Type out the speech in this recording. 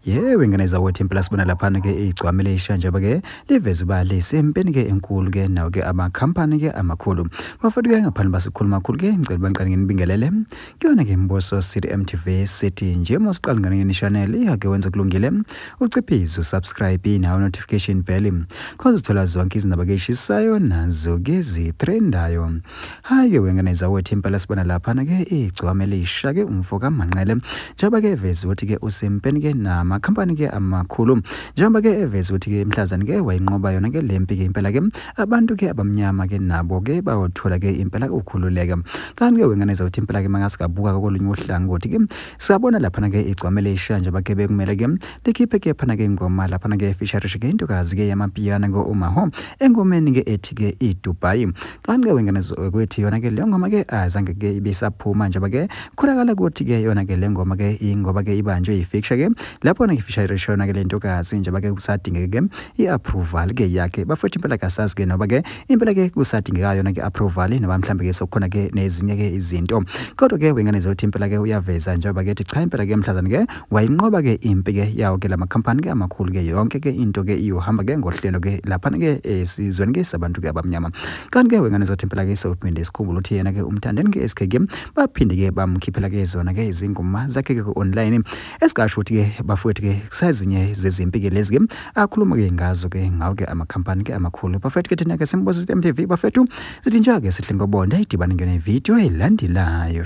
yewe ngane zakwethu impela sibona laphana ke igcwamele ishanjaba ke liveza uba lisempeni ke enkulu ke nawo ke amakhampani ke amakhulu bafowethu ke ngaphandle basikhulu makhulu ke ngicela uba ngiqale nginibingelele kuyona ke mbuso city mtv city nje uma usiqala ngane ngeni channel iyake wenze kulungile uciphize usubscribe nawo notification bell cause uthola zonke izindaba ke eshisayo nazo ke zitrendayo Hayi wengane zawethi impela sibona laphana ke igcwame lisha ke umfo kaManqele njengoba ke eveza ukuthi ke usempeni ke nama company ke amakhulu njengoba ke eveza ukuthi ke imhlazani ke wayinqoba yona ke lempi ke impela ke abantu ke abamnyama ke nabo ke bayothola ke impela ukukhululeka kanti ke wengane zawethi impela ke mangasikabuka kolunye uhlangothi ke sabona laphana ke igcwame lisha njengoba ke bekumele ke likhiphe ke phana ke ingoma laphana ke feature ke intokazi ke yamapiyana ngo Umaho engomeni ke ethi ke iDubai Qanqe wengane kwethi yona ke le ngoma ke azange ke ibisaphuma njengoba ke khulakala ukuthi ke yona ke le ngoma ke ingoba ke ibanjwe yi-fixture ke lapho na ngifisha iresho yona ke le ntokazi njengoba ke kusadingeke ke i-approval ke yakhe bafethu impela kasazi ke noba ke impela ke kusadingeka yona ke approval noba mhlambe ke sokukhona ke nezinye ke izinto kodwa ke wengane zothi impela ke uyaveza njengoba ke ethi cha impela ke mhlazane ke wayinqoba ke impi ke yawo ke lama company ke amakhulu ke yonke ke into ke iyohamba ke ngohlelo ke lapha ke esizweni ke sabantu ke abamnyama kanti ke wengane zothi impela ke sophinde isikhumbula ukuthi yena ke umthandeni ke SKG baphinde ke bamkhiphela ke zona ke izingoma zakhe ke online esikasho ukuthi ke bafowethu ke kusazinye zezimpi ke lezi ke akhuluma ke ngazo ke ngawo ke ama company ke amakhulu bafowethu ke thina ke simboza MTV bafethu sithi njake sihle ngobonda idibane ngene video elandelayo